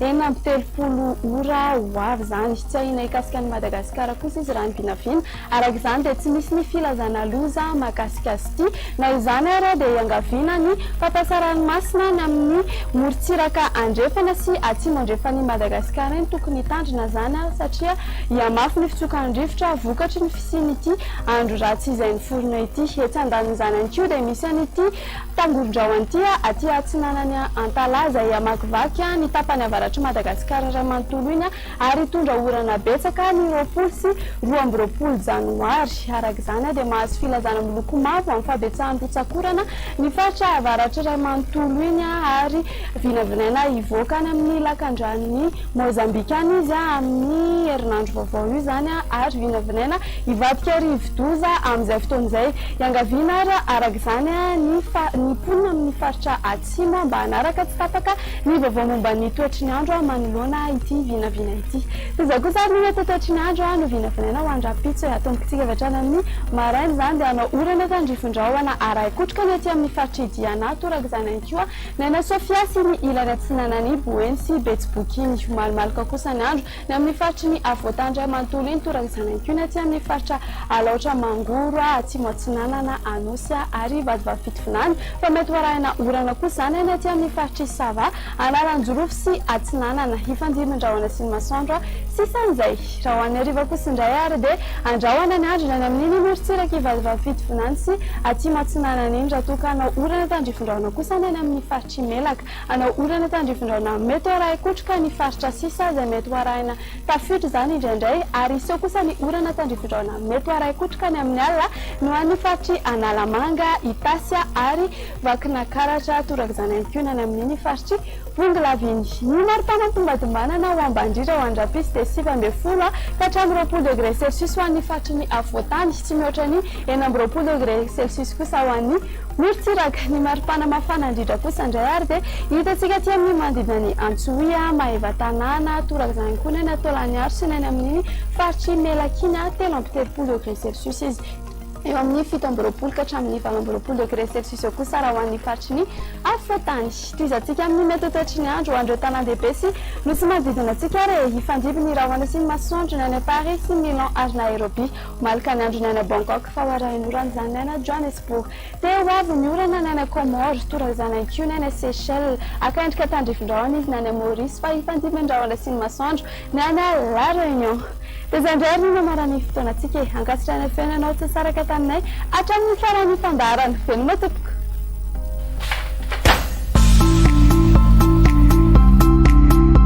Enina amby telopolo ora ho avy izany. Tsy ahiana hikasika an'i Madagasikara kosa izy raha ny vinavina. Araka izany dia tsy misy ny filazana loza mahakasika azy ity. Na izany ary dia iangaviana ny fampiasa ranomasina any amin'ny morontsiraka andrefana sy atsimo andrefan'i Madagasikara eny tokony hitandrina izany satria hihamafy ny fitsokan'ny rivotra vokatry ny fisian'ity andro ratsy izay niforona ity. Etsy andanin'izany ihany koa dia misy an'ity Tangolondraho Antia, aty atsinanan'i Antalaha izay hamakivaky ny tapany avaratr'i Madagasikara iray manontolo iny ary hitondra orana betsaka ny roapolo sy roa amby roapolo janoary. Araka izany dia mahazo filazana miloko mavo amin'ny fahabetsahan'ny rotsak'orana ny faritra avaratra iray manontolo iny ary vinavinaina hivoaka any amin'ny lakandranon'i Mozambika any izy amin'ny herinandro vaovao io izany ary vinavinaina Hivadika ho rivodoza amin'izay fotoana izay. Iangaviana ary araka izany ny ny mponina amin'ny faritra Atsimo mba hanaraka tsy tapaka ny vaovao momba ny toetry ny andro manoloana ity vinavina ity. Toy izao kosa ary ny mety ho toetry ny andro novinavinaina ho any rahampitso e. Atombontsika avy hatrany amin'ny maraina izany dia hanao orana tandrify rahona arahin-kotroka ny aty amin'ny faritr'i Diana toraka izany ihany koa ny any Sofia sy ny ilany atsinanan'i Boeny sy Betsiboky. Mihomalomaloka kosa ny andro. Ny amin'ny faritry ny afovoantany iray manontolo iny toran'ny zanank'ioina aty amin'ny faritra Alaotra Mangoro atsimo atsinanana Anosy ary Vatovavy Fitovinany fa mety ho arahina orana kosa izany any aty amin'ny faritr'i Sava Analanjirofo sy atsinanana Ifandimbin-drahona sy ny masoandro sisa an'izay raha ho an'ny hariva kosa indray ary dia andrahona ny andro indray ny amin'iny morontsiraka i Vatovavy Fitovinany sy atsimo atsinanana iny raha toa ka hanao orana tandrifindrahona kosa ny any amin'ny faritr'i Melaka Hanao orana tandrivindraona mety ho arahin-kotroka ny faritra sisa izay mety ho arahina tafiotra izany indraindray ary hiseho kosa ny orana tandrivindraona mety ho arahin-kotroka ny amin'ny alina ny ho an'ny faritr'i Analamanga, Itasy ary Vakinakaratra. Toraka izany ihany koa ny any amin'iny faritr'i Bongolava iny. Ny mari-pana am-pombadimbanana ho ambandritra ho any Rapiso dia sivy ambin'ny folo ka hatramin'ny roapolo degre celsius ho an'ny faritry ny afovoan-tany sy mihoatra ny enina amby roapolo degre celsius kosa ho an'ny Morontsiraka. Ny maripana mafana indrindra kosa indray ary dia hitantsika aty amin'ny manodidina an'i Antsohihy, Maevatanàna, toraka izany ihany koa ny any Antoalaniharo sy ny any amin'iny faritr'i Melaky iny, telo amby telopolo degré celsius izy. Eo amin'ny fito amby roapolo ka hatramin'ny valo amby roapolo degré celsius eo kosa raha ho an'ny faritry ny afovoan-tany. Tohizantsika amin'ny mety ho toetry ny andro ho an'ireo tanàn-dehibe sy nosy manodidina antsika ary e! Hifandimby ny rahona sy ny masoandro ny any Paris sy Milan ary Nairobia. Malika ny andro ny ana Bangkok fa ho arahin'orana izany ny ana Johannesburg. Te ho avy ny orana ny ana Comores, toa raizanan'i Kiu ny ana Seychelles. Haka endrika tandrifin-drahona izy ny any Maurice fa hifandimby ny rahona sy ny masoandro ny any La Réunion. Dia izay indray ary no namaran' ny fotoanantsika e! Ankasitrahana ny fihaonanao tsy nisaraka taminay hatramin' ny faran' ny fandaharana. Veloma tompoko!